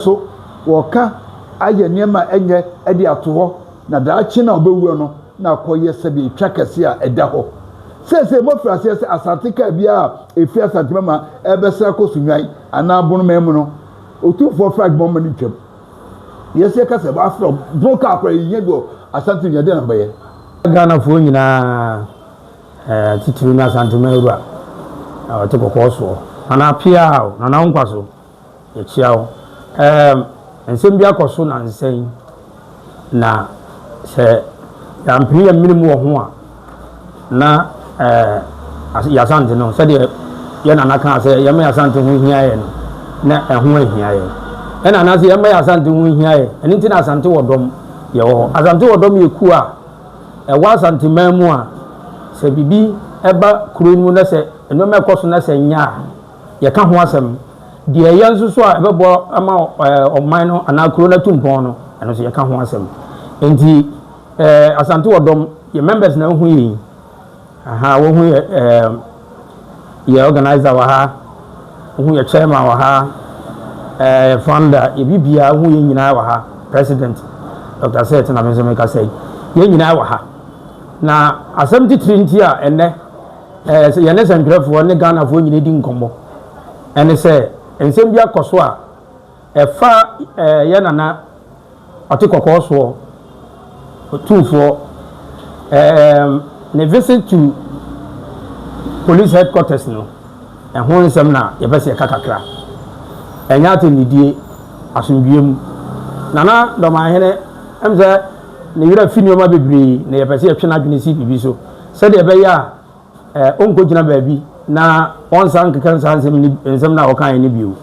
So wɔka ayɛ nneɛma ɛnyɛ ɛde ato hɔ na daakye no a ɔbɛwuo no na akɔ yɛ sɛdeɛ etwa kɛseɛ a ɛda hɔ seesei? Moafiri aseɛ sɛ asante kaa biara a ɛfiri Asante Mama ɛrebɛsra kɔ Sunnwan anaa Bonoman mu no Otumfoɔ Frank Boman no twam? Yes yɛka sɛ wɔafrɛ wo bono kaa koraa yɛhia bi wɔ Asante Nua dɛn na mobɛyɛ? Ghanafoɔ nyinaa ɛɛ titiriw no Asante Mawura a ɔte kɔkɔɔ soɔ. Nana Apeaa o, Nana wo nkwa so. Yɛkyia wo. Ɛɛm, nsɛm bi akɔ so nnansa yi, na sɛ yɛampene yɛn mene mu wɔ ho a, na ɛɛ, Y'Asante no, sɛdeɛ yɛn nana kaa sɛ yɛmma Y'Asante ho nhia yɛn no, na ɛho anhia yɛn. Yɛn nana se yɛmma Y'Asante ho nhia yɛn. Ɛno nti na Asante wɔ dɔm. Yɛwɔ hɔ. Asante wɔ dɔm yɛ kuo a ɛwɔ Asanteman mu a, sɛ biribi ba kuro no mu na sɛ nneɛma rekɔ so na sɛ ɛnyɛ a, Yɛka ho asɛm. Deɛ ɛyɛ nso so a ɛbɛboa ama ɔman no anaa kuro no atu mpɔn no, ɛno nso yɛka ho asɛm. Enti Asante wɔ dɔm, yɛ members na wohu yɛn yi. Aha, wohu yɛ yɛ organizer wɔ ha, wohu yɛ chairman wɔ ha, yɛ founder, yɛ biribiara, wohu yɛn nyinaa wɔ ha. President Dr. Seth na me nso mekasa yi. Yɛn nyinaa wɔ ha. Na asɛm titiri nti a ɛnnɛ Ɛɛ yɛne sɛntwerɛfoɔ ne Ghanafoɔ nyina di nkɔmmɔ ɛne sɛ nsɛm bi akɔso a ɛfa ɛɛ yɛ nana ɔte kɔkɔɔ soɔ ɔtumfoɔ ɛɛ ne visit to police headquarters no ɛho nsɛm na yɛpɛ sɛ yɛka kakra ɛnyɛ atɛnnidie asomdwie mu nana dɔmahene ɛm sɛ ne werɛ fi nneɛma bebree na yɛpɛ sɛ yɛtwe n'adwene si biribi so Sɛdeɛ ɛbɛyɛ a ɔrenkɔgyina baabi na ɔnsan nkeka nsaa nsɛm no, nsɛm no a ɔkaeɛ no bio.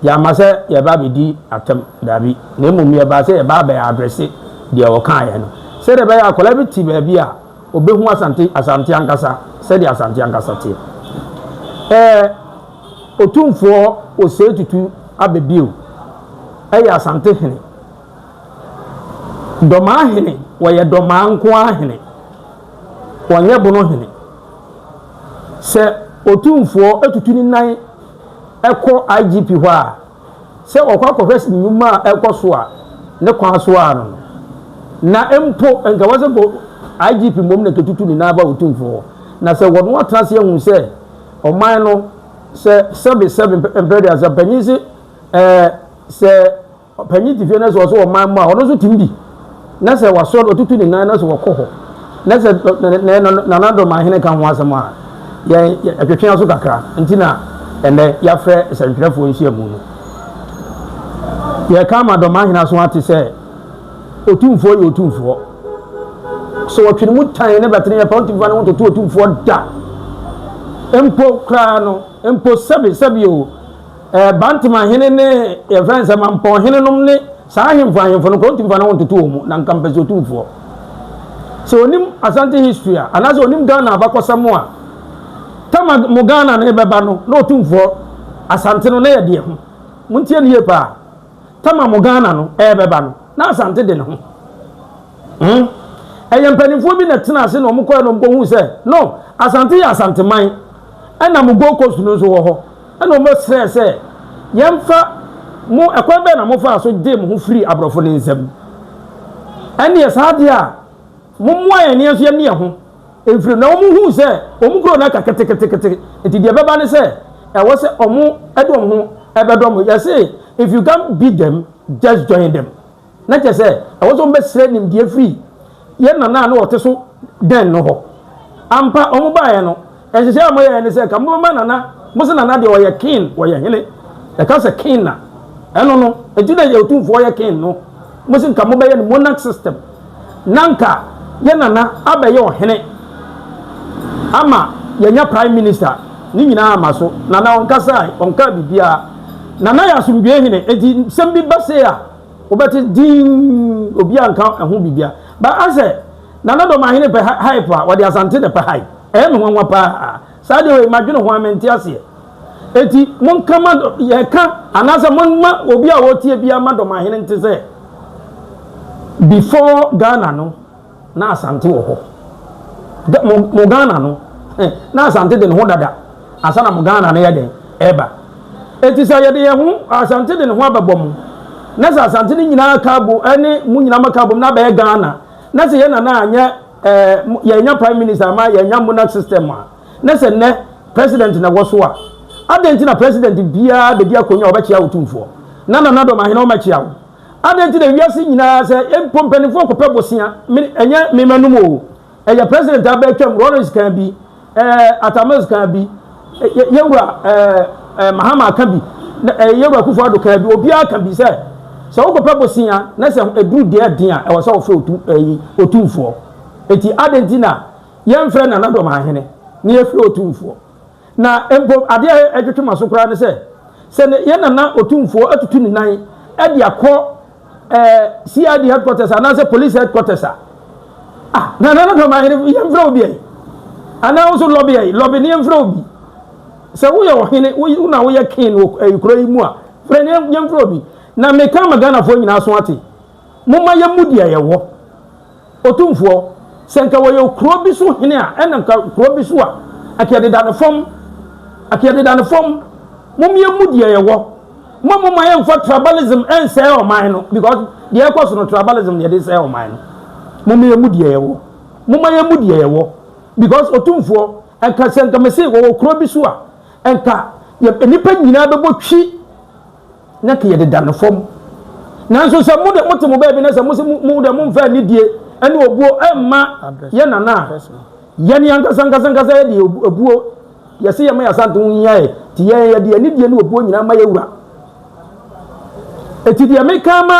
Yɛamma sɛ yɛreba abɛdi atɛm, dabi, na mmom yɛbaa sɛ yɛreba abɛ addresse deɛ ɔkaeɛ no. Sɛdeɛ ɛbɛyɛ a akwadaa bi te baabi a, ɔbɛhu Asante, Asante ankasa, sɛdeɛ Asante ankasa teɛ. Ɛɛ, Otumfoɔ Osei Tutu aba bio. Ɛyɛ Asante hene. Dɔmaa hene, wɔyɛ dɔmaa nko ara hene. Wɔnyɛ bono hene. Sɛ Otumfoɔ tutu ne nan kɔ IGP hɔ a, sɛ wɔkɔ akɔhwɛ nnwuma a ɛrekɔ so a ne kwan so ara no no. Na mpo nka wɔse nka IGP mmom na nka tutu ne nan ba Otumfoɔ hɔ. Na sɛ wɔne no atena ase ahu sɛ ɔman no sɛ sɛbe sɛbe mpɛ mpɛ de a, sɛ mpanin se ɛɛ sɛ Ɔpanyin te fie na sɛ ɔsɛ ɔman mu a, ɔno nso tumi di. Na sɛ wasɔ no, ɔtutu ne nan na sɛ ɔkɔ hɔ. Na sɛ Nana Dɔmanhene ka ho asɛm a, yɛn yɛtwetwe aso kakra. Nti na ɛnnɛ yɛafrɛ sɛntwerɛfoɔ nhyiamu no. Yɛreka ama Dɔmanhene aso ate sɛ Otumfoɔ yɛ Otumfoɔ. Sɛ wɔtwe ne mu tan na bɛtene yɛ paa, ɔntumi fa ne ho ntoto Otumfoɔ da. Mpo koraa no, mpo sɛbe sɛbe o, Ɛɛ, Bantam ahene ne deɛ yɛfrɛ no sɛ Mampɔn hene nom ne saa ahemfo ahemfo no nka wɔntumi fa ne ho ntoto wɔn mu, na nka mpɛ sɛ otumfoɔ. Sɛ onim Asante history a, anaasɛ onim Ghana abakɔsɛm a, tama mo Ghana no rebɛba no, na otumfoɔ Asante no na yɛ deɛ ho. Montie no yie paa. Tama mo Ghana no rebɛba no, na Asante de ne ho. Hmm? Ɛyɛ mpanimfoɔ bi na tena ase na wɔn kɔɛ na wɔn kɔhu sɛ, no, Asante yɛ Asanteman, ɛna mo Gold Coast no nso wɔ hɔ. Ɛnna wɔbɛsrɛɛ sɛ, Yɛmfa mo, ɛkwan bɛn na mofaa so gyee mo ho firii aborɔfo no nsam? Ɛnneɛ saa deɛ a, mommoa yɛn na yɛn nso yɛnne yɛn ho mfiri mu. Na wɔhuu sɛ wɔn kuro no aka ketekete, enti deɛ ɛbɛba ne sɛ, ɛwɔ sɛ wɔde wɔn ho bɛdɔ mo. Yɛse, If you can't beat them, just join them. Na kyerɛ sɛ, ɛwɔ sɛ wɔbɛsrɛ nimdeɛ firi yɛn nana a na wɔte so dɛn no hɔ. Ampa, wɔbaeɛ no, nhyehyɛeɛ a wɔyɛeɛ ne sɛ anka mobɛma nana, mose nana deɛ ɔyɛ king, ɔyɛ hene. Yɛka sɛ king a, ɛno no, enti na yɛn otumfoɔ yɛ king no. Mose anka mobɛyɛ no monarch system, na anka yɛn nana abɛyɛ ɔhene ama yɛanya prime minister. Ne nyinaa amma so. Nana ɔnkasae, ɔnkaa biribiara. Nana yɛ asomdwoe hene, enti nsɛm bi ba sei a, Wobɛte dinn, obi anka ɛho biribia. But asɛ Nana Dɔmahene pɛ hype a, wɔde Asante na ɛpɛ hype. Ɛyɛ me nwanwa paa. Saa adeɛ wei, madwene ho a, mente aseɛ. Enti monka ma, yɛka, anaasɛ momma obi a ɔretie biara ma Dɔmahene nte sɛ before Ghana no, Na Asante wɔ hɔ dɛ mo mo Ghana no eh na Asante de ne ho dada ansa na mo Ghana no yɛ dɛn ɛɛba enti sɛ yɛde yɛn ho Asante de ne ho abɛbɔ mo na sɛ Asante no nyinaa aka abo ɛne mo nyinaa mo aka abom na abɛyɛ Ghana na sɛ yɛn nana anyɛ ɛɛ mo yɛnya prime minister ama yɛnya monarch system a na sɛ nnɛ president na ɛwɔ so a adɛn nti na president biara bɛdi akonya a ɔbɛkyea otumfoɔ na nana dɔm ahene ɔmɛkyea wo. Adɛn nti na wiase nyinaa sɛ yɛn mpo mpanimfoɔ kɔpɛ bosea? Me, ɛnyɛ me manom o. Ɛyɛ president a bɛtwam, Rawlings kan bi, ɛɛ Atamils kan bi, yɛ yɛwura ɛɛ ɛɛ Mahama ka bi, na ɛyɛ yɛwura Kufuor Addo kan bi. Obiara ka bi sɛ sɛ wokɔpɛ bosea na sɛ ɛduru deɛ ɛden a ɛwɔ sɛ wɔfrɛ otu ɛyi otumfoɔ. Eti adɛn nti na yɛmfrɛ Nana Dɔm Ahene na yɛfrɛ otumfoɔ? Na mpo ade a ɛtwetwe m'aso koraa ne sɛ, sɛ yɛn Nana Otumfoɔ atutu ne nan de akɔ eh, CID headquarters anaasɛ police headquarters a, ah, na Nana Dɔmahene yɛmfrɛ wo biae, anaa wo nso lɔbi ayi, lɔbi ne yɛmfrɛ wo bi. Sɛ woyɛ ɔhene, wo na woyɛ king wɔ eh, kuro yi mu a, frɛ ne yɛmfrɛ wo bi. Na meka ama Ghanafoɔ nyinaa so ate, momma yɛmmu deɛ yɛwɔ. Otumfoɔ, sɛ nka wɔyɛ kuro bi so hene a, ɛna nka kuro bi so a, ɛka yɛdeda no fam, ɛka yɛdeda no fam, mom yɛmmu deɛ yɛwɔ, mma mo ma yɛmfa tribalism nsɛe ɔman no, because deɛ ɛkɔ so no tribalism na yɛde sɛe ɔman no, mom yɛmmu deɛ yɛwɔ, momma yɛmmu deɛ yɛwɔ, because Otumfoɔ, ɛnka sɛ nka mese wɔwɔ kuro bi so a, ɛnka yɛ nnipa nyinaa bɛbɔ twi, Na ke yɛde da no fam. Nanso sɛ mo de mote mo baabi na sɛ mo se mo de momfa anidie ne obuo mma yɛ nana a, yɛne ankasa ankasa ankasa yɛ de obuo yɛse yɛma yɛasante ho hia yɛ, ti yɛn yɛde anidie ne obuo nyinaa ma yɛwura. Eti deɛ meka ama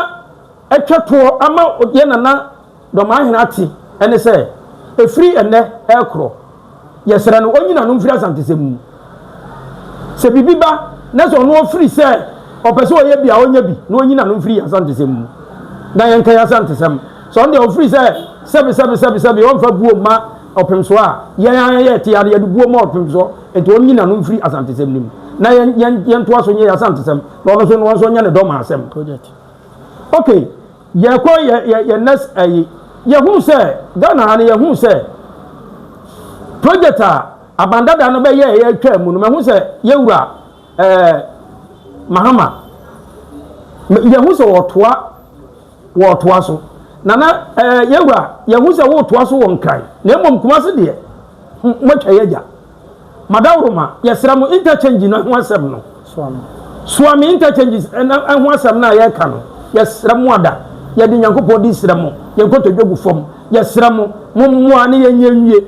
atwa toɔ ama yɛ nana Dɔmaa hene ate ɛne sɛ, ɛfiri ɛnnɛ ɛrekorɔ, yɛsrɛ no ɔnyi n'ano mfiri Asantesɛm mu. Sɛ biribi ba na sɛ ɔno ɔfiri sɛ ɔpɛ sɛ ɔyɛ bi a, ɔnyɛ bi na ɔnyi n'ano mfiri Asantesɛm mu na yɛnkae Asantesɛm. Sɛ ɔno deɛ ɔfiri sɛ sɛbesɛbesɛbesɛbe ɔmfa buo mma ɔpemsoɔ a, yɛn ara yɛte ara yɛde buo ma ɔpemsoɔ. Enti ɔnyi n'ano mfiri Asantesɛm no mu na yɛntoa so nyɛ yɛn Asantesɛm na ɔno nso ɔnyɛ ne Dɔmaa asɛm. Okay. Yɛkɔ yɛ yɛ yɛ next ɛyi yɛhuu sɛ Ghana ha no yɛhuu sɛ project a Aban Dada no bɛyɛɛ yɛ twaa mu no mɛhu sɛ yɛwura ɛɛ Mahama yɛhu sɛ wɔtoa wɔtoa so nana ɛɛ yɛwura yɛhu sɛ wɔtoa so wɔ Nkran na mmom Kumase deɛ moatwa yɛ agya. Madawuruma, yɛsrɛ mo, interchange no ho asɛm no, Suami interchanges ho asɛm no a yɛreka no, yɛsrɛ mo ada, yɛde Nyankopɔn di srɛ mo, yɛn nkotodwe gu fam, yɛsrɛ mo, mo mmoa ne yɛn nyɛ nwie.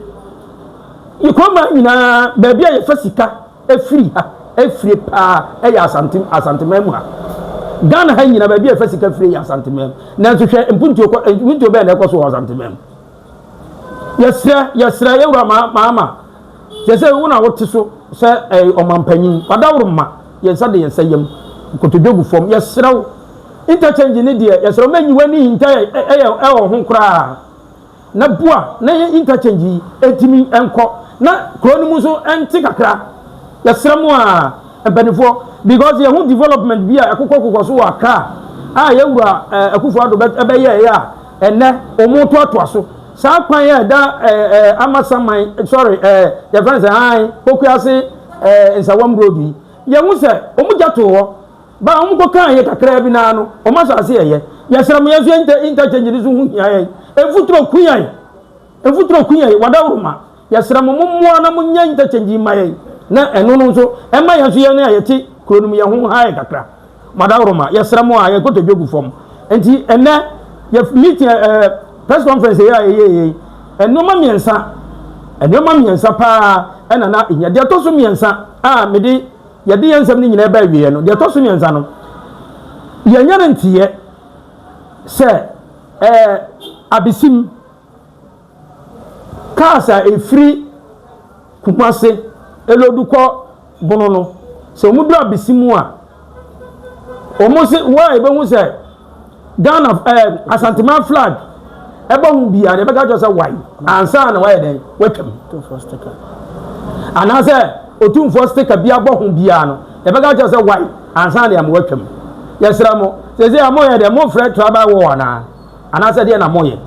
Yɛkɔma nyinaa, baabi a yɛfa sika firi ha fire paa yɛ Asante, Asanteman mu ha. Ghana ha nyinaa, baabi a yɛfa sika fire yɛ Asanteman mu. Nanso hwɛ mpuntuo kɔ, mpuntuo bɛyɛ na ɛkɔ so wɔ Asanteman mu. Yɛsrɛ, yɛsrɛ yɛn wura Mahama, seesei wo na wote so sɛ ɛɛ ɔmanpanyin, wadaworo mma, yɛn nsa de yɛn nsa yam, nkotodwe gu fam, yɛsrɛ wo, interchange no deɛ, yɛsrɛ wo ma nyi w'ani nhinta ɛyɛ ɛwɔ ho koraa, na boa na yɛn interchange yi ɛntumi ɛnkɔ, na kuro no mu nso ɛnte kakra, yɛsrɛ mo a, mpaninfoɔ, because yɛn ho development bi a ɛkokɔ kokɔ so wɔ Accra a yɛn wura ɛɛ Akufo-Addo ɛbɛyɛɛ a, Ɛnnɛ, wɔretoatoa so. Saa kwan a ɛda ɛɛ Amasaman, sorry, ɛɛ yɛfrɛ no sɛ hann, Pokuase ɛɛ Nsawam Road yi, yɛhu sɛ wɔgya too hɔ. Ba a wɔkɔkaa yɛ kakraa bi no ara no, wɔn asase yɛ yɛ. Yɛsrɛ mo, yɛn nso yɛn inter interchange no so ho hia yɛn. Mfuturo, ku yɛn! Mfuturo Queen yi, Wadaworoma, yɛsrɛ mo mommoa na monyɛ interchange yi mma yɛn na ɛno no nso ɛmma yɛn nso yɛn a yɛte kuro no mu yɛn ho nhae yɛn kakra. Wadaworoma, yɛsrɛ mo a yɛn kotodwe gu fam nti ɛnnɛ yɛ meeting ɛ ɛ press conference yi a yɛyɛeɛ yi, nnoɔma mmiɛnsa, nnoɔma mmiɛnsa pa ara na na ɛhia. Deɛ ɛtɔ so mmiɛnsa a mede, yɛde yɛn nsɛm no nyinaa reba awieɛ no, deɛ ɛtɔ so mmiɛnsa no, yɛanya no nteeɛ sɛ ɛ ɛ abesim, Cars a ɛfiri Kumase ɛloodu kɔ Bono no, sɛ wɔduru Abisimu a, wɔn se wo a ɛbɛhu sɛ Ghana ɛɛ eh, Asanteman flag ɛbɔ ho biara na ɛbɛka kyerɛ sɛ wae ansa na wayɛ dɛn watwam anaasɛ otumfoɔ stika bi abɔ ho biara no ɛbɛka kyerɛ sɛ wae ansa na yɛn watwam yɛsrɛ mo sɛ sɛ yɛn mo yɛ dɛ mo frɛ tribal war anaa. Anaasɛ deɛ na moyɛ.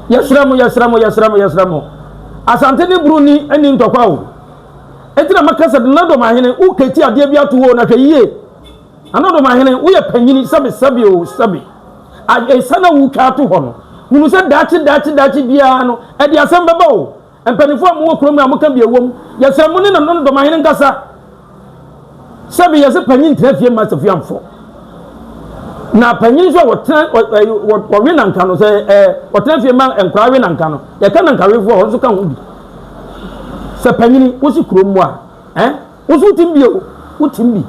Yɛsrɛ mo, yɛsrɛ mo, yɛsrɛ mo, yɛsrɛ mo. Asante ne bro ni nni ntɔkwa o. Enti na maka sɛ Nana Domahene wo kati adeɛ bi ato hɔ o, na hwɛ yie. Nana Domahene woyɛ panyini sɛbe sɛbe o sɛbe. Ae, esiane a wotwa ato hɔ no, hunu sɛ daakye daakye daakye biara no, ɛde asɛm bɛba o. Mpanyimfo a wɔwɔ kurom no a wɔka bi a ɛwom, yɛsrɛ mo ne no ne dɔmahene nkasa. Sɛbe yɛse panyin tena fie mma asafie amfo. Na panyin nso a wɔtena wɔwe nanka no sɛ ɛɛ wɔtena fie mma nkwaraa we nanka no. Yɛka nankawefo a wɔn nso ka ho bi. Sɛ panyin wosi kurom mu a ɛ woso wotim bi o wotim bi.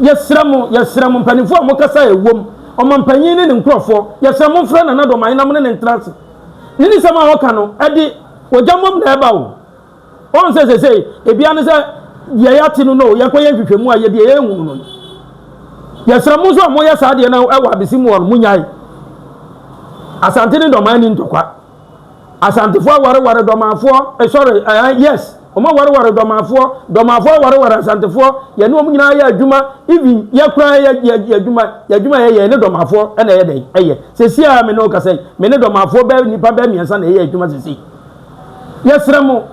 Yɛsrɛ mo yɛsrɛ mo mpanyimfo a wɔkasa a ɛwom ɔmampanyin ne ne nkurɔfoɔ yɛsrɛ mo mfrɛ nana dɔmahene na mo ne no ntena ase. Ne nsɛm a ɔka no, ɛde ogya mmom na ɛba o. Wɔn sɛ sɛsɛe, ebia ne sɛ deɛ yɛate no no, yɛkɔyɛ nhwehwɛmu a yɛdeɛ yɛnhunu no. Yɛsrɛ mo nso a moyɛ saa deɛ no wɔ abesi mu hɔ no, monyae. Asante ne dɔmaa ni ntɔkwa. Asantefoɔ awareware dɔmaafoɔ, eh, sorry, eh, yes. Wɔawareware Dɔmafoɔ, Dɔmafoɔ awareware Asantefoɔ, yɛne wɔn nyinaa yɛ adwuma, even yɛ koraa yɛ yɛ yɛ adwuma, yɛ adwuma yɛyɛ yɛne Dɔmafoɔ na ɛyɛ dɛn ɛyɛ. Seesei a me ne wo kasa yi, me ne Dɔmafoɔ bɛyɛ nnipa bɛyɛ mmiɛnsa na yɛyɛ adwuma seesei. Yɛsrɛ mo,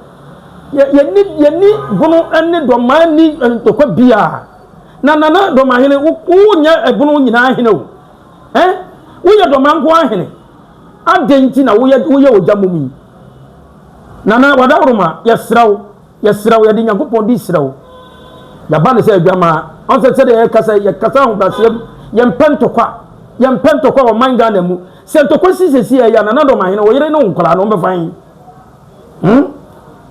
yɛ yɛni yɛni bono ne Dɔmaa nni ntɔkwa biara. Na Nana Dɔmahene, wo wonyɛ ɛbono nyinaa hene o. Ɛn, woyɛ Dɔmaa nko ara hene. Adɛn nti na woyɛ woyɛ ogya mmom yi? Nana Wadawuruma, yɛsrɛ wo, yɛsrɛ wo, yɛde Nyankopɔn din srɛ wo, yɛaba no sɛ adwamaa. Ɔn sɛ sɛdeɛ yɛkasa yi, yɛkasa ahobrɛaseɛ mu, yɛmpɛ ntɔkwa, yɛmpɛ ntɔkwa wɔ ɔman Ghana mu. Sɛ ntɔkwa si seesei a, ɛyɛ a, Nana Dɔmahene, wo yere ne wo nkwadaa no, wɔbɛfa he? Hmm?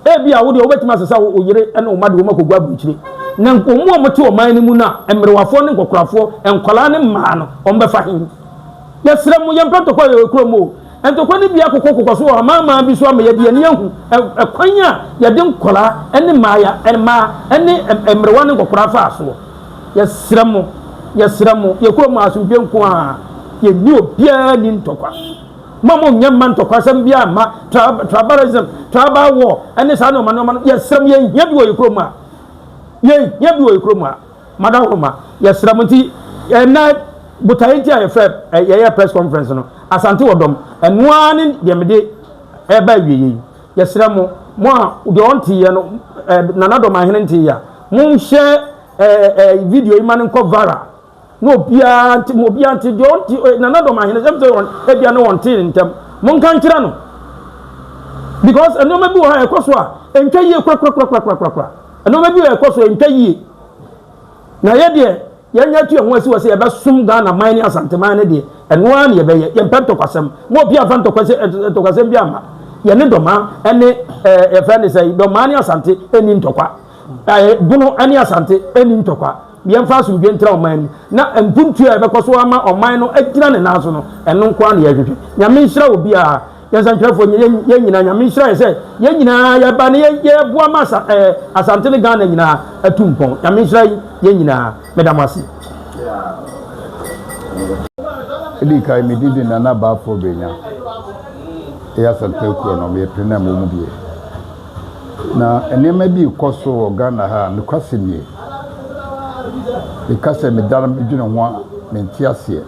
Ebia wo deɛ, wobɛtumi asesa wo yere ne wo mma de wɔn akɔgu aburokyire. Na wɔn a wɔte ɔman no mu no a, mmerewafoɔ ne nkɔkorafoɔ, nkwadaa ne mmaa no, wɔbɛfa he? Yɛsrɛ mo, yɛmpɛ ntɔkwa wɔ yɛn kurom o. Ntokwa no bi akokɔkokɔ so wɔ amanaman bi so ama yɛde yɛn ani ahu kwan a yɛde nkwadaa ne mmaaya, mmaa ne mmerewa ne nkɔkoraa faa soɔ. Yɛsrɛ mo, yɛsrɛ mo, yɛn kurom asomdwoeɛ nko ara, yɛnni obiara nni ntɔkwa. Mma mo nyɛ mma ntɔkwasɛm biara mma, tribalism, tribal war ne saa nneɛma nneɛma no, yɛsrɛ mo, yɛhia bi wɔ yɛn kurom a, yɛhia bi wɔ yɛn kurom a. Madam Homa, yɛsrɛ mo nti ɛnɛ botaeɛ nti a yɛfrɛ yɛyɛ press conference no, Asante wɔ dɔm, ɛno ara ne deɛ mede ɛreba awieɛ yi. Yɛsrɛ mo, mo a deɛ ɔnteeɛ no, Nana Dɔmahene nteeɛ a, monhyɛ video yi ma no nkɔ viral na obiara nte mu, obiara nte, deɛ ɔnte, Nana Dɔmahene, ɛm sɛ ebia ne ɔntee ne ntɛm, monka nkyerɛ no because nneɛma bi wɔ hɔ a ɛkɔ so a ɛntwa yie korakorakorakorakorakora. Nnoɔma bi rekɔ so ɛntwa yie. Na yɛ deɛ yɛanya atu yɛn ho asi hɔ sɛ yɛbɛsom Ghana man ne Asante man no deɛ, ɛno ara na yɛbɛyɛ. Yɛmpɛ ntɔkwasɛm. Mo obiara mfa ntɔkwasɛm biara mma. Yɛne Dɔmaa ne ɛɛ yɛfrɛ no sɛn, Dɔmaa ne Asante nni ntɔkwa. Ɛɛ Bono ne Asante nni ntɔkwa. Yɛmfa asomdwoeɛ ntra ɔman mu. Na mpuntuo a yɛbɛkɔ so ama ɔman no agyina ne nan so no, ɛno nko ara na yɛhwehwɛ. Nyame nhyira obiara. Yɛn santwerɛfoɔ nyɛ yɛn nyinaa nyame nhyira yɛ sɛ yɛn nyinaa yɛba ne yɛboa ma asa ɛɛ eh, asante ne ghana nyinaa atu mpɔn nyame nhyira yɛn nyinaa meda mo ase. ɛdi kan me didi nana baafoɔ bɛnya ɛyɛ asantwerɛ kuro no meyɛ pene na mmɔ mu bie na nneɛma bi kɔ so wɔ ghana ha nokwasɛ nie meka sɛ medara medwene ho a mente aseɛ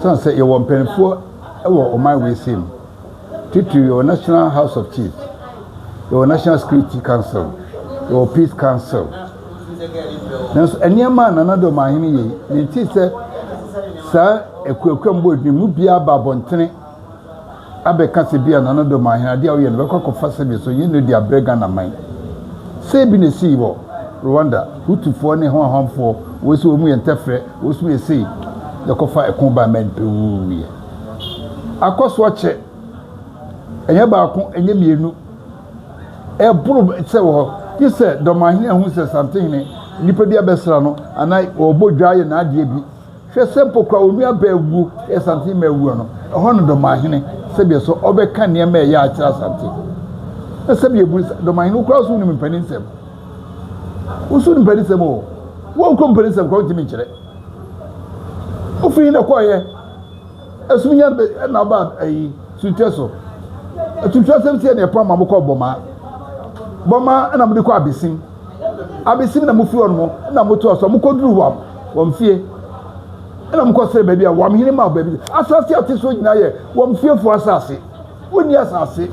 sane sɛ yɛwɔ mpanimfoɔ Wɔ ɔman weesei mu, titiriw yɛwɔ National House of Chiefs, yɛwɔ National Security Council, yɛwɔ Peace Council. Nanso nneɛma a Nana Addo Ɔmanhene yɛ yi, mentee sɛ saa akuakuam bɔ adwuma mu biara aba abɔntene abɛka sɛ bi a Nana Addo Ɔmanhene adeɛ a ɔyɛ no bɛkɔ akɔfa sɛdeɛ sɛ ɔnyɛ no de abrɛ Ghana man. Sei bi na ɛsii wɔ Rwanda, Hutufoɔ ne Hwanhwanfoɔ, wei nso wɔn mu yɛ ntɛfrɛ, Wosu yɛ sei yɛkɔ fa ɛko ba mɛn pɛ wuu yɛ akɔ so akyɛ ɛnyɛ baako ɛnyɛ mmienu ɛboro sɛ wɔ hɔ gye sɛ dɔmahene ahu sɛ santehene nipa bi abɛsra no anaa ɔbɔ dwa ayɛ n'adeɛ bi hwɛ sɛ mpo kora wɔn nua bɛɛ wuo yɛ santehene ma awuo no ɛhɔ no dɔmahene sɛdeɛ so ɔbɛka nneɛma ɛyɛ akyerɛ asante na sɛdeɛ bu dɔmahene wokora so wonim mpanin nsɛm Woso mpɛnisɛm o, wɔnkɔ mpɛnisɛm koraa wontumi nkyerɛ. Wofi he na ɛkɔɔeɛ? Ɛsum hia na aba ayi suntwɛ so. Atuntun asɛm si ɛne ɛpam ma mokɔ bɔmaa. Bɔmaa ɛna mode kɔ abesim. Abesim na mofi hɔ nom na motoa so a mokɔ duru wam, wamfie. Ɛna mokɔ srɛ baabi a wam hene ma baabi. Asase ate soɔ nyinaa yɛ wamfiefoɔ asase. Wonni asase.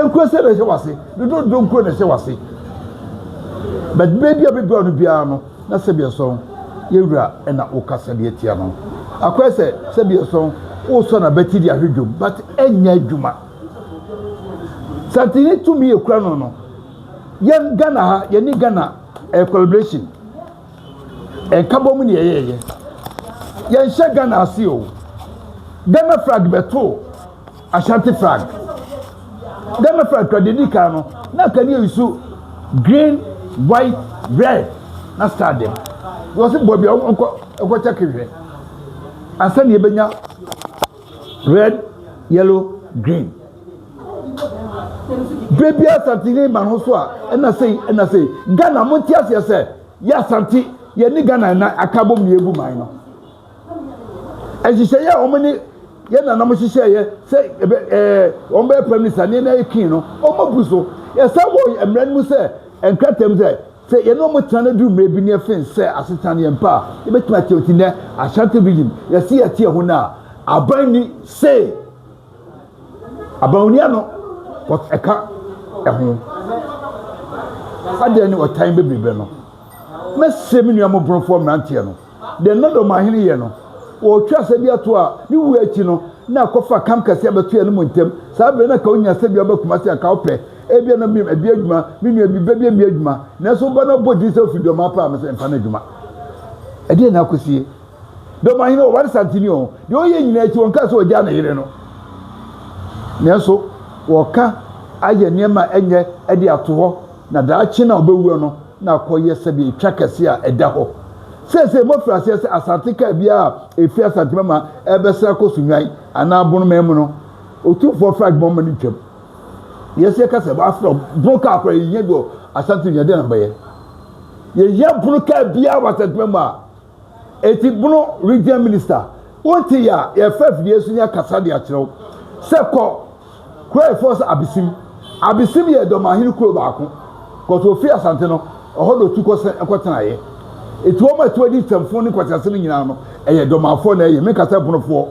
Nkuro sɛ na ɛhyɛ wase. Dodow donkor na ɛhyɛ w'ase. But beebi a obedua wo no biara no, na Sɛbiɛsɔn yɛ wura na wo kasa bi atsia no. Akɔyɛ sɛ Sɛbiɛsɔn wosɔ n'abati de ahwɛ dwom but ennyɛ edwuma. Santini tum yi ekura no no, yɛn Ghana ha, yɛne Ghana ɛyɛ collaboration. Nkabɔmu na yɛyɛɛyɛ. Yɛnhyɛ Ghana ase o. Ghana flag bɛtoo. Ashanti flag. Ghana flag kura deɛ ɛdi kan no na akadeɛ nso green white red na star dɛm because sɛ baabi a ɔkɔ ɛkɔ kyɛke hwɛ ansa na yɛbɛnya red yellow green berɛ bi asante ne ma no so a ɛna sei ɛna sei ghana mo nti aseɛ sɛ yɛ asante yɛne ghana na aka bom na yɛbu man no nhyehyɛeɛ a wɔn ne yɛn nananom hyehyɛeɛ sɛ ɛbɛ ɛɛ wɔn bɛyɛ prime minister ne na ekin no wɔn abu so yɛsan wɔ mmara no mu sɛ nkratam sɛ sɛ yɛn ne wɔn tena no duru mmerɛ bi ne yɛfen sɛ asetena no yɛn pɛ a yɛbɛtumi akyɛ wɔn ti nɛ ashanti region yɛsi yɛte ɛho no a aban ni se aban oni ano but ɛka ɛho adeɛ ne ɔtan bebrebe no mɛsrɛ me nua mo borɔfoɔ mmeranteɛ no Deɛ na Domahene yɛ no, ɔretwa asɛdeɛ toɔ a, ne wuo akyi no, na ɛkɔfa kam kɛseɛ a ɛbɛto yɛne mo ntam. Saa berɛ no, anka wonya sɛ bi a wobɛ Kumasi, anka wopɛ. Ebia na wobɛyɛ ɛbi adwuma, me nua bi, bɛbia bi adwuma. Nanso woba na wobɔ din sɛ wofi Dɔmaa paa, me sɛ mfa no adwuma. Ɛdeɛn na akɔ sie? Domahene, ɔware Santini o, deɛ ɔyɛ nyinaa akyi, ɔnkaa sɛ ɔgyaa ne yere no. Nanso, wɔka ayɛ nneɛma a ɛnyɛ de ato hɔ. Na daakye no a ɔbɛwuo no na akɔyɛ sɛdeɛ ɛtwa kɛseɛ a ɛda hɔ. Seesei moafiri aseɛ sɛ asate kaa biara a ɛfiri Asante Mama ɛrebɛsra kɔ Sunnwan anaa Bonoman mu no, Otumfoɔ Flag Mama no ntwam. Yes, yɛka sɛ wɔafrɛ bono kaa koraa yɛhia bi wɔ Asante Nua dɛn na mobɛyɛ? Yɛhia bono kaa biara wɔ Asante Mama. Eti Bono Region Minister, Wonte yɛ a, yɛfa afidie so nya kasa de akyerɛ wo sɛ kɔ kuro a yɛfrɛ sɛ Abisim. Abisim yɛ Dɔmahene kuro baako cos ofi Asante no ɛhɔ na otu kɔ sɛ ɛkɔ tenaeɛ. Eti wɔn a ɛtoa di Tɛmfo ne Kwasiase no nyinaa no ɛyɛ Dɔmafoɔ na ɛyɛ, menka sɛ Bonofoɔ,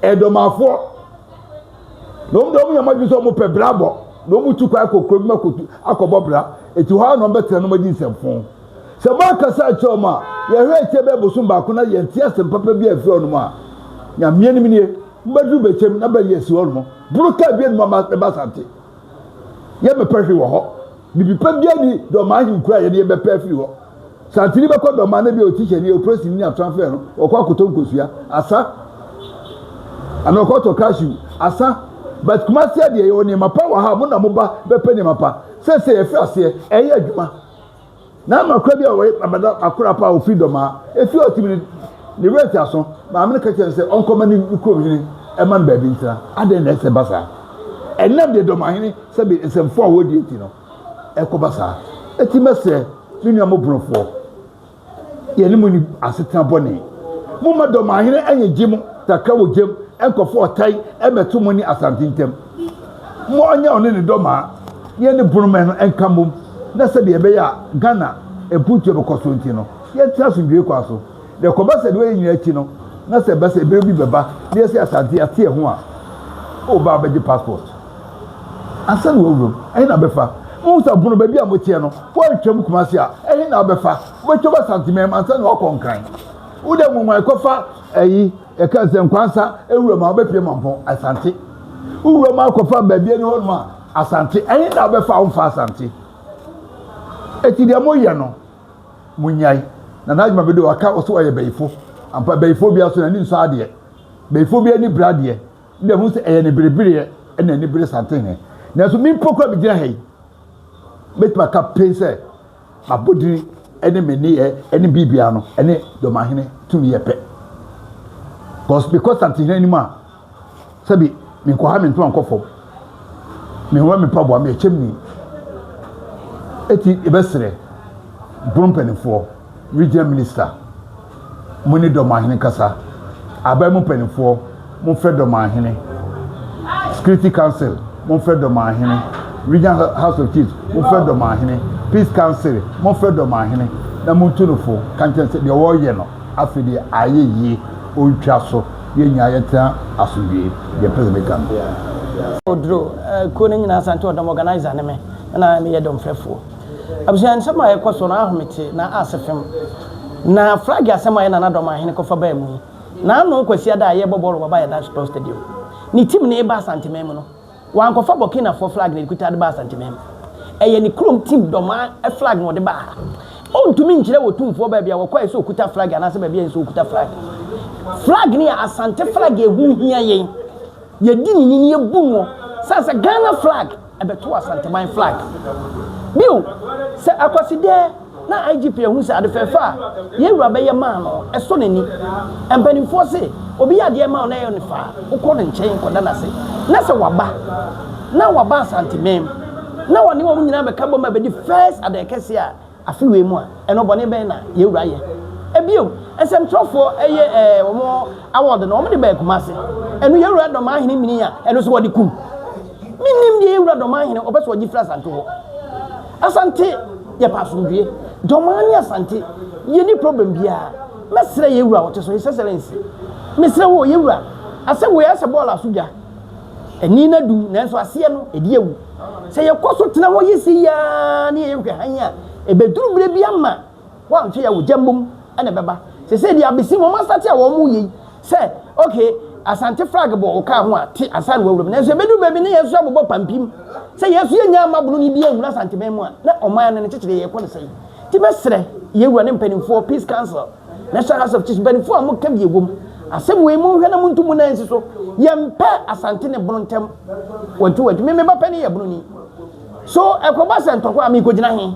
ɛyɛ Dɔmafoɔ. Na wɔn deɛ wɔn yɛ wɔn adwene sɛ wɔn pɛ bra bɔ na wɔn tu kwan kɔ kuro bi mu akɔ tu akɔbɔ bra. Eti hɔ ara na wɔn bɛtena na wɔn adi nsɛmfoo. Sɛ moankasa akyerɛ wɔn a, yɛhwɛ akyire bɛyɛ bosom baako na yɛnte asɛm papa bi amfiri wɔnom a, Nyameɛ nim nie, mobɛduru Bɛkyɛm na bɛyi asi hɔ nom. Boro kaa bie nom a mɛba Asante. Yɛmmɛpɛ hwee wɔ hɔ. Bibipa biara nni Dɔmaa ahenkuro a yɛne yɛbɛpɛ afiri hɔ. Santeni bɛkɔ Dɔmaa na ebia otikyani, opolisini ne atrafɛɛ no ɔkɔ akɔtɔ nkosua, asa. Anaa ɔkɔ tɔ cashew, asa. But Kumasi adeɛ yɛwɔ nneɛma pa wɔ ha a mo na moba bɛpɛ nneɛma pa. Seesei yɛfiri aseɛ, ɛyɛ adwuma. Na ama kora bi a ɔyɛ abada akora pa a ɔfiri dɔmaa, ɛfiri ɔtim no, ne werɛ te aso, maame no ka kyerɛ no sɛ ɔnkɔma ne kurom hene ɛma no baabi ntena. Adɛn na ɛsɛ ɛba saa? Ɛnam deɛ dɔmahene sɛbe nsɛmfoɔ a wɔdie nti no ɛkɔba saa. Ɛti mɛsrɛ me nua mobonofoɔ. yɛne mo ni asetena bɔne. Momma dɔmahene ɛnyɛ gye mo kakra wɔ gyam nkɔfo ɔtae ɛmɛto mo ne Asante ntam. Mo ɔnyɛ ɔne ne dɔmaa ne ɛne bonomɛ no nka mmom na sɛdeɛ ɛbɛyɛ a Ghana mpuntuo bɛkɔ so nti no yɛntena asomdwoeɛ kwan so. Deɛ ɛkɔba sɛ deɛ wɔyɛ nyinaa akyi no na sɛ ɛba sɛ ɛberɛ bi bɛba na yɛse Asante yɛate ɛho a, o ba abɛgye passport. Ansa na wɔawura mu, ɛhe na wobɛfa? Muhu sɛ ɔpono baabi a moteɛ no, woantwa mu Kumasi a, ɛhe na wobɛfa? Wobɛtwam Asantemɛm ansa na woakɔ Nkran. Wode nguguan kɔfa ayi, yɛka no sɛ Nkwansa wuram a, wobɛpue Mampɔn, Asante. Wowura mu akɔfa baabi ani hɔnom a, Asante. Ɛhe na wobɛfa a womfaa Asante? Enti deɛ moyɛ no, monyae. Nana Adwuma Bɛde waka wo sɛ wɔyɛ bayifo. Ampa, bayifo biara so n'ani nsɔ adeɛ. Bayifo biara ani bere adeɛ. na ɛho sɛ ɛyɛ ne berebereɛ na ani bere santenhe. Nanso me mpo koraa megyina ha yi, mɛtumi aka pen sɛ m'abɔdini ne me nneyɛɛ ne biribiara no ne Dɔmahene tumi yɛ pɛ. Because mekɔ santenhe anim a, sɛbi menkɔ ha mentoma nkɔ fam. Mehoma me mpaboa, meyɛ kyɛmni. Eti yɛbɛserɛ Bono mpanimfoɔ, regional minister, Mo ne Dɔmahene kasa. Aban mu mpanimfoɔ, momfrɛ Dɔmahene. Security Council, momfrɛ Dɔmahene. Regional House of Chiefs, momfrɛ Dɔmahene. Peace Council, momfrɛ Dɔmahene na montu no fo. Ka nkyerɛ no sɛ deɛ ɔreyɛ no afei deɛ ayɛ yie, ɔntwa so. Yɛn nyinaa yɛntena asomdwoeɛ. Deɛ mpɛ sɛ meka no. Oduro, Kuo no nyinaa Asante Ɔdɔm organiser ne me, na meyɛ dɔmfrɛfoɔ. Abusua nsɛm a ɛkɔ so no ahome te na ase fem. Na flag asɛm a ɛna Nadoma ahene kɔfa baa mu yi, na ano Kwasiada a yɛrebɔ bɔɔlo wɔ Bayada Sports Stadium, ne team no reba Asanteman mu no, wankɔfa Burkinafoɔ flag na ɛkuta de baa Asanteman mu. Ɛyɛ ne kurom team Doma flag na ɔde baa ha. Ɔntumi nkyerɛ Otumfoɔ baabi a ɔkɔe sɛ ɔkuta flag anaasɛ baabi a ɛnsɛ sɛ ɔkuta flag. Flag no yɛ Asante flag a ɛho hia yɛn. Yɛdi no ni na yɛbu noɔ sane sɛ Ghana flag. bɛtoo Asanteman flag bio sɛ Akwasidɛ na IGP ahu sɛ ade fɛɛfɛ a yɛn wura bɛyɛ maa no ɛsɔ n'ani. Mpanimfoɔ se obi yɛ adeɛ ma wo na ɛyɛ no fɛ a, wokɔ ne nkyɛn kɔda no ase na sɛ waba na waba Asanteman na wɔne wɔn nyinaa bɛka bom abɛdi first adɛkɛseɛ a, Afe wei mu a, ɛno bɔne bɛn na yɛn wura yɛ? Bio, nsɛmtwerɛfoɔ yɛ wɔn award no, wɔde baa Kumasi. Ɛno yɛn wura Dɔmahene mini a, ɛno nso wɔde kum. Mennim deɛ yɛn wura Dɔmahene ɔpɛ sɛ ɔgye firi Asante hɔ. Asante, yɛpɛ asomdwoeɛ. Dɔmaa ne Asante, yɛnni problem biara. Mɛsrɛ yɛn wura a ɔte so, His Excellency, mesrɛ wo o, yɛn wura, asɛm wei ayɛ sɛ bɔɔl aso dwa. Ani na dum, nanso aseɛ no, ɛdi awu. Sɛ yɛkɔ so tena hɔ yi sei ara na yɛyɛ hwɛ hann a, ɛbɛduru berɛ bi ama woanhwɛ yi a ogya mmom na ɛbɛba. Seesei deɛ abɛsi no, wɔastate a wɔreyɛ yi sɛ, ok, Asante flag bɔ wo kaa ho a, te ansa na woawura mu. Nanso ɛbɛduru baabi na yɛn nso yɛabobɔ pampim. Sɛ yɛn nso yɛnnya amma bononi biara anwura Asanteman mu a, na ɔman no ne kyekyereyɛ rekɔ no sɛn? Enti mɛsrɛ yɛn wura ne mpanimfoɔ, Peace Council, National House of Chiefs mpanyinfoɔ a wɔka bi wɔ mu. Asɛm wei monhwɛ na montu mo nan nsi so. Yɛmpɛ Asante ne Bono ntam wantu wantu. Me me ba panin yɛ Bononi. So ɛkɔba sɛ ntɔkwa a merekɔgyina he?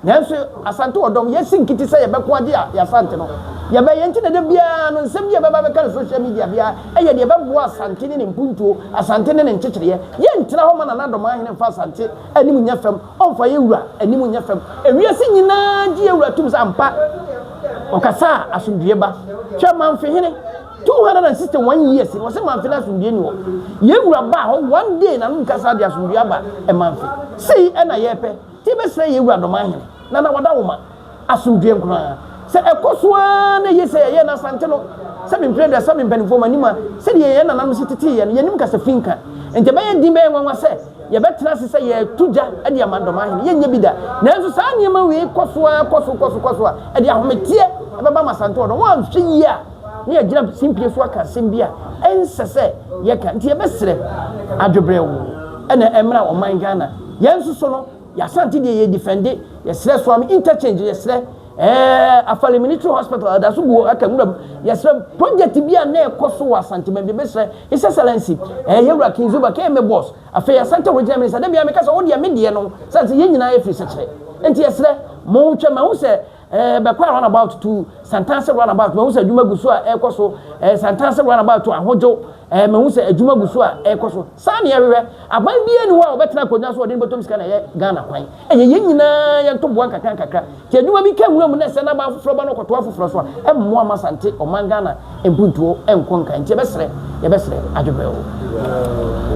Nanso Asante ɔdɔm, yɛasi nkiti sɛ yɛbɛko agye yɛ Asante no. Yɛbɛyɛ nti na da biara no nsɛm bi a ɛbɛba abɛka no social media biara yɛ deɛ ɛbɛboa Asante ne ne mpuntuo, Asante ne ne nkyekyereɛ. Yɛntena hɔ ma Nana Adomaa hene mfa Asante anim nyɛ fam. Ɔmfa yɛn Wura anim nyɛ fam. Ewiase nyinaa gye yɛn Wura tom sɛ ampa Ɔkasa a asomdwoeɛ ba. Hwɛ Manfehene, 261 years no wɔse Manfe no asomdwoeɛ nni hɔ. Yɛn Wura baa hɔ one day na no nkasa de asomdwoeɛ aba Manfe. Sei na yɛpɛ, nti yɛbɛsrɛ yɛn Wura Nnomaa Hene, Nana Wada Woma. asomdwoeɛ nkoraa. Sɛ ɛkɔ so ara na ɛyɛ sɛ yɛyɛ no Asante no, sɛ me mprɛduasa me mpanimfoɔ m'anim a, sɛdeɛ yɛn nananom si tetee yɛn no, yɛnnim kasa fi nka. Enti ɛbɛyɛ den, ɛbɛyɛ nwanwa sɛ yɛbɛtena ase sɛ yɛreto gya de ama Dɔmahene. Yɛrenyɛ bi da. Nanso saa nneɛma wei kɔ so ara kɔ so kɔ so kɔ so a, ɛde ahometeɛ bɛba ama Asante ɔdɔm. Wɔanhwɛ yie a, na yɛagyina simpie so aka asɛm bi a ɛnsɛ sɛ yɛka. Enti yɛbɛsrɛ adwebrɛw na ɛmmra ɔman Ghana yɛn nso so no. Y'Asante deɛ yɛ defende yɛsrɛ Suame interchange yɛsrɛ ɛɛ Afale military hospital ɛdaso gu hɔ aka nwuram yɛsrɛ project bi a na ɛkɔ so wɔ Asante bɛn bi bɛsrɛ His Excellency ɛɛ yɛwura King Zuba kɛyɛ me boss afei Asante original minister da biara meka sɛ wo deɛ me deɛ no sane sɛ yɛn nyinaa yɛ firi sɛkyerɛ nti yɛsrɛ mo hwɛ ma ho sɛ Ɛɛ, bɛkɔɔ runabout to Santase runabout, mahu sɛ adwuma gu so a ɛrekɔ so, ɛɛ, Santase runabout to Ahodwo, ɛɛ, mahu sɛ adwuma gu so a ɛrekɔ so. Saa na yɛhwehwɛ. Aban biara nni hɔ a ɔbɛtena akonnwa so a ɔde ne bɔtɔm sika na ɛyɛ Ghana kwan. Ɛyɛ yɛn nyinaa yɛn ntoboa nkakrankakra. Nti adwuma bi ka nwura mu na ɛsɛ na aba afoforɔ ba na ɔkɔto afoforɔ so a, ɛmmoa mma Asante, ɔman Ghana mpuntuo nkɔ nkan. Nti yɛbɛsrɛ, yɛbɛsrɛ adweberɛw.